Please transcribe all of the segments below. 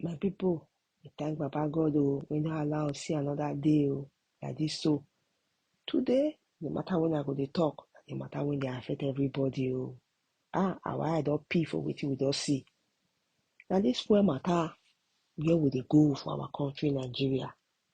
My people, we thank Baba God oh, we no allow us see another day oh, like this so. Today, the matter when I go dey talk, na the matter when dey affect everybody oh. Ah, our eye don pee for wetin we don see. Na this fuel matter where we dey go for our country Nigeria.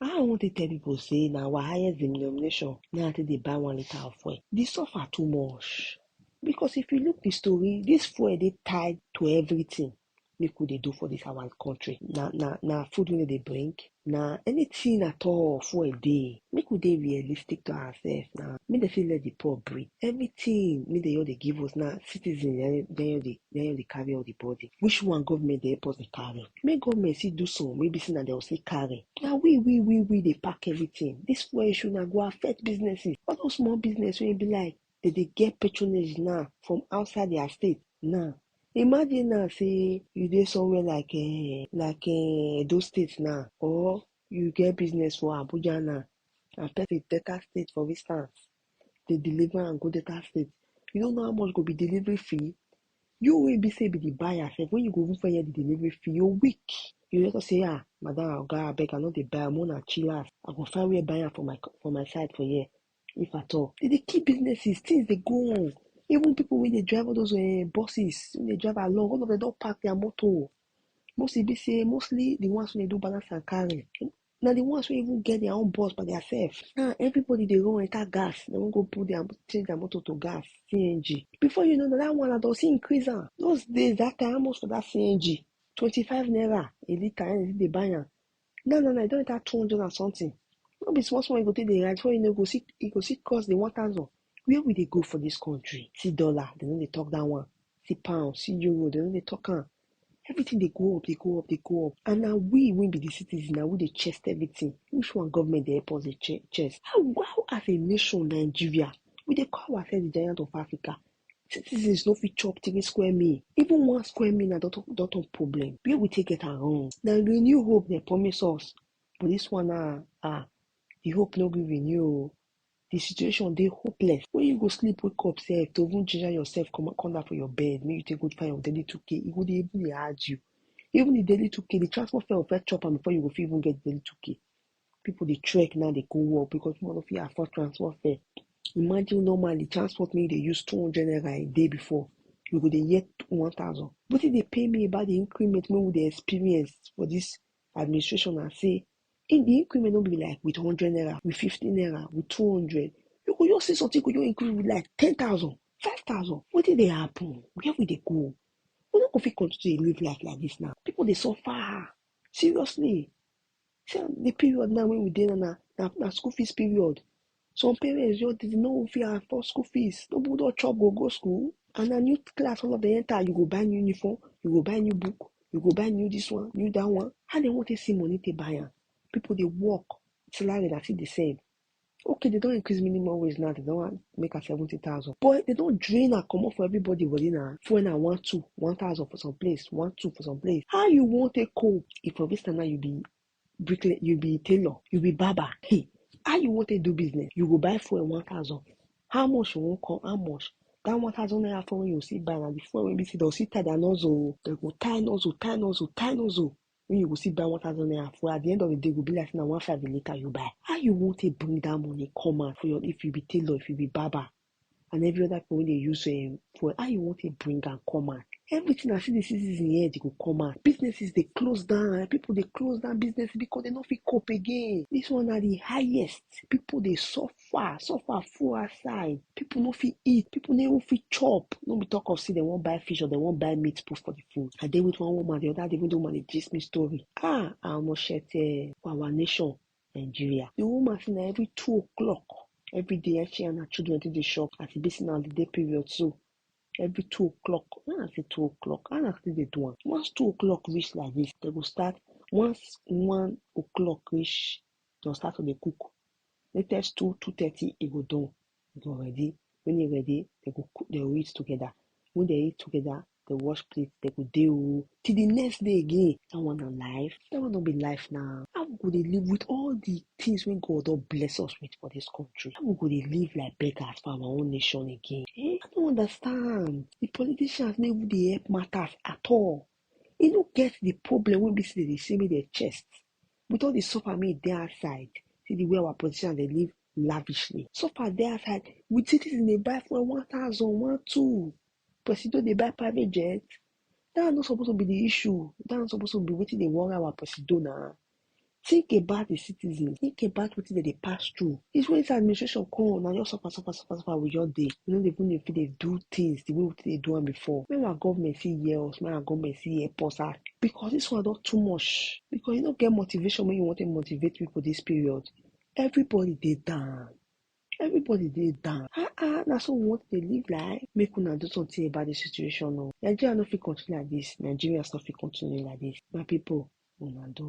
How I wan take tell people say na our highest denomination na I take dey buy one litre of fuel? The suffer too much because if you look the story, this fuel dey tied to everything make we dey do for this our country. Na na na food wey dem dey bring, na anything at all fuel dey. Make we dey realistic to ourselves na, make dem fit let the poor breathe. Everything make dem just dey give us na citizens na im na im just dey na im just dey carry all the burden. Which one government dey help us dey carry? Make government see do some wey be say na dem still carry. Na we we we we dey pack everything. This fuel issue na go affect businesses. All those small business wey e be like dem dey get patronage now from outside their state now. Imagine now say you dey somewhere like um like um Edo state now or you get business for Abuja now and person enter state for instance dey deliver am go Delta state, you no know how much go be delivery fee? You wey be sey you be de buyer sef wen you go even first hear de delivery fee you weak, you go just sey um madam oga abeg I no dey buy am make una chillax I go find where buy am for my for my side for here if at all. Dem dey kill businesses, things dey go on even pipu wey dey drive all those um buses wey dey drive along all of dem don park their motor, most e be sey mostly de ones wey dey do balance and carry na the ones wey even get their own bus by their self now everybody dey run enter gas dem wan go put their change their motor to gas cng before you know na that one na don see increase am those days that time how much for that cng twenty five naira a litre na dem dey buy am now now na e don enter two hundred and something no be small small you go take dey ride before you know you go see you go see cross the one thousand Where we dey go for this country? See dollar, they no dey talk that one. See pound, see euro, they no dey talk am. Everything dey go up, dey go up, dey go up. And na we wey be the citizen, na we dey chest everything. Which one government dey help us dey che- chest? How, how as a nation, Nigeria, we dey call ourselves the giant of Africa. Citizens no fit chop three square meal. Even one square meal na don turn don turn problem. Where we take get am wrong? Na renew hope dem promise us, but this one na ah, the hope no gree renew o. Di situation dey hopeless wen you go sleep wake up sef to even ginger yourself come come down from your bed make you take go find your daily two k e go dey even dey hard you. Even di daily two k di transport fare go first chop am before you go fit even get di daily two k. Pipu dey trek now dey go work because pipu no fit afford transport fare. Imagine normally transport wey you dey use two hundred naira a day before you go dey hear one thousand. Wetin dey pain me about di increment wey we dey experience for dis administration na sey If the increment no be like with hundred naira, with fifty naira, with two hundred, you go just see something go just increase with like ten thousand, five thousand. Wetin dey happen? Where we dey go? We no go fit continue to live life like this now. People dey suffer seriously. See the period now when we dey now na na school fees period. Some parents just dey no fit afford school fees. No people don chop go go school and na new class all of them enter. You go buy new uniform, you go buy new book, you go buy new this one, new that one. How they want to see money to buy am? People they work, salary na still the same. Okay, they don't increase minimum wage now, they don't make am 70,000. But they don't drain and come up for everybody body now. For now, one, two, 1,000 for some place, one, two for some place. How you want to cope if for this time now you be bricklayer, you be tailor, you be barber, hey, how you wan take do business? You go buy fuel one thousand, how much you wan come, how much? That one thousand naira fuel wey you see buy na the fuel wey be say dem see tie their nozzle o, dem go tie nozzle, tie nozzle, tie nozzle wey you go see buy one thousand naira fuel, at the end of the day e go be like say na one five a litre you buy, how you wan take bring that money come out for your, if you be tailor, if you be barber, and every other people wey dey use um, fuel, how you wan take bring am come out? Everything as e dey see this in head, e go come out. Businesses dey close down, people dey close down business because they no fit cope again. This one na the highest. People dey suffer, suffer full outside. People no fit eat, people no even fit chop. No be talk of say they wan buy fish or they wan buy meat put for the food. I dey with one woman the other day, even the woman dey gist me story. Ah, ah, omo shete for our nation. Nigeria. The woman say na every two o'clock every day eh, she and her children take dey shop as e be say na holiday period so every two o'clock when I say two o'clock how na still dey do am once two o'clock reach like this they go start once one o'clock reach they go start to dey cook latest two two thirty e go done You don ready? When you ready, they go cook, they go eat together. When they eat together, they wash plate, they go deal oh, till the next day again. That one on life. That one don't be life now. How we go dey live with all the things when God don't bless us with for this country? How we go dey live like beggars for our own nation again? Eh? I don't understand. The politicians no even dey help matters at all. E no get the problem when be say they dey say make their chest with all the suffer me dey outside, see the way our politicians dey live lavishly. Suffer dey outside with citizens dey buy fuel one thousand, one two. Presido dey buy private jet. That one no suppose to be the issue. That one suppose to be wetin dey worry our presido na. Think about the citizens. Think about wetin dem dey pass through. It's when it's administration come, now just suffer, suffer, suffer, suffer with your day. You know, they even if they do things the way we they do them before. May our government see hear us, may our government see help us out. Because this one not too much. Because you don't get motivation when you want to motivate people this period. Everybody they down. Everybody dey down. Ah ah, na so we want to dey live life. Make una do something about the situation o. Nigeria no fit continue like this. Nigerians no fit continue like this. My people, una do.